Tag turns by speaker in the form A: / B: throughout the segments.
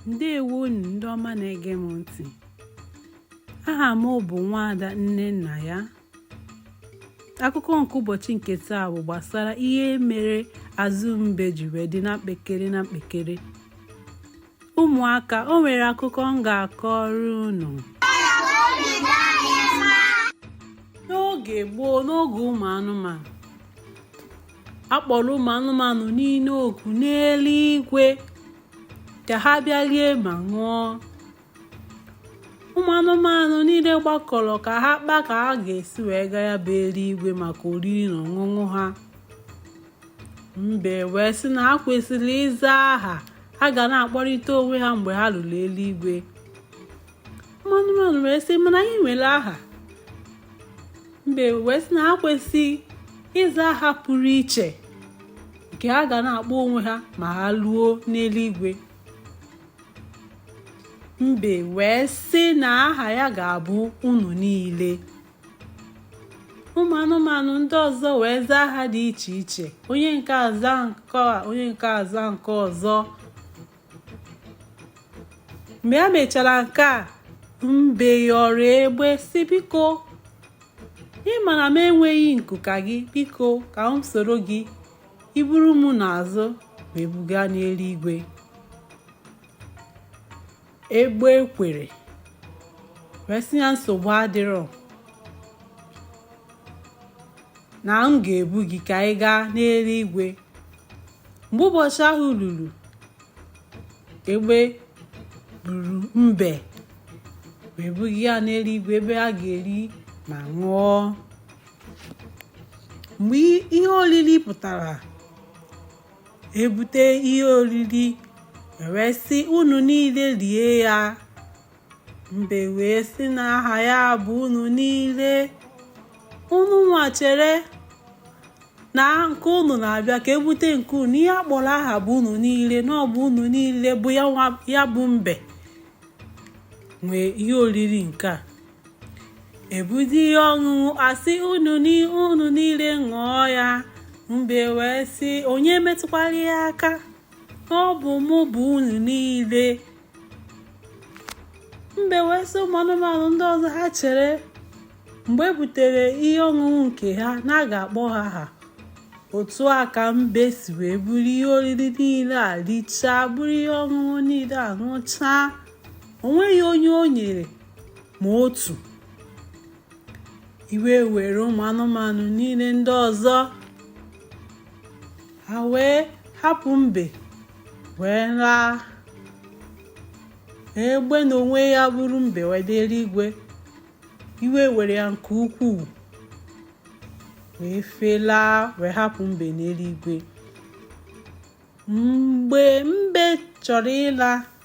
A: ndewo unu ndị ọma na-ege m ntị aha m bụ nwaada nnennaya akụkọ nke ụbọchị nke taa bụ gbasara ihe mere azụ mbe ji wee dị na mkpekere na mkpekere ụmụaka o nwere akụkọ m ga-akọrọ unu n'oge gboo n'oge ụmụ anụmanụ a kpọrọ ụmụ anụmanụ niile oku n'eluigwe ka ha bịa rie ma ṅụọ ụmụ anụmanụ niile gbakọrọ ka ha kpaa ka ha ga-esi wee gaa ya bụ eluigwe maka oriri na ọṅụṅụ ha mbe wee sị na ha kwesịrị ịza aha ha ga na-akpọrịta onwe ha mgbe ha luru eluigwe ụmụ anụmanụ wee sị mana anyị nwere aha mbe wee sị na ha kwesịrị ịza aha pụrụ iche nke ha ga na-akpọ onwe ha ma ha luo n'eluigwe mbe wee sị na aha ya ga-abụ unu niile ụmụ anụmanụ ndị ọzọ wee zaa aha dị iche iche onye nke a aza nke a onye nke a aza nke ọzọ mgbe ha mechara nke a mbe yọrọ egbe sị biko ị ma na m enweghị nku ka gị biko ka m soro gị i buru m n'azụ wee buga n'eluigwe egbe kwere wee sị ya nsogbu adịrọ na m ga-ebu gị ka ị gaa n'eluigwe mgbe ụbọchị ahụ ruru egbe buru mbe wee buga ya n'eluigwe ebe a ga-eri ma ṅụọ mgbe ihe oriri pụtara e bute ihe oriri wee sị unu niile rie ya mbe wee sị na aha ya bụ unu niile unu nwa chere na nke unu na-abịa ka e bute nke unu ihe a kpọrọ aha bụ unu niile na ọ bụ unu niile bụ ya bụ mbe nwe ihe oriri nke a e bute ihe ọṅụṅụ a sị unu niile ṅụọ ya mbe wee sị onye metụkwara ya aka ọ bụ mụ bụ unu niile mbe wee sị ụmụ anụmanụ ndị ọzọ ha chere mgbe e butere ihe ọṅụṅụ nke ha na a ga-akpọ ha aha otu a ka mbe si wee buru ihe oriri niile a richaa buru ihe ọṅụṅụ niile a ṅụchaa o nweghị onye o nyere ma otu iwe were ụmụ anụmanụ niile ndị ọzọ ha wee hapụ mbe wee laa egbe na onwe ya buru mbe wee dị eluigwe iwe were ya nke ukwuu wee felaa wee hapụ mbe n'eluigwe mgbe mbe chọrọ ịla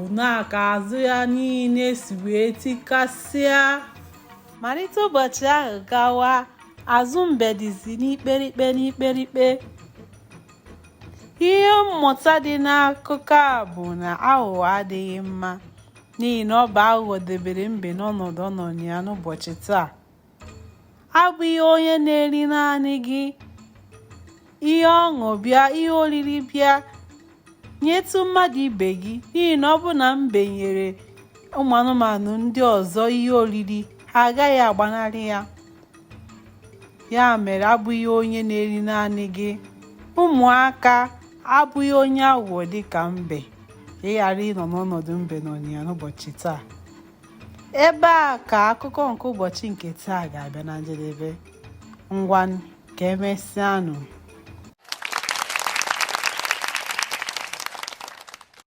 A: otu a ka azụ ya niile si wee tikasịa malite ụbọchị ahụ gawa azụ mbe dịzi n'ikperikpe n'ikperikpe ihe mmụta dị n'akụkọ a bụ na aghụghọ adịghị mma n'ihi na ọ bụ aghụghọ debere mbe n'ọnọdụ ọ nọ ya n'ụbọchị taa abụghị onye na-eri naanị gị ihe ọṅụ bịa ihe oriri bịa nyetụ mmadụ ibe gị n'ihi na ọ bụ na mbe nyere ụmụ anụmanụ ndị ọzọ ihe oriri ha agaghị agbanarị ya ya mere abụghị onye na-eri naanị gị ụmụaka abụghị onye aghụghọ dịka mbe ị ghara ịnọ n'ọnọdụ mbe nọ na ya n'ụbọchị taa ebe a ka akụkọ nke ụbọchị nke taa ga-abịa na njedebe ngwanụ ka emesịanụ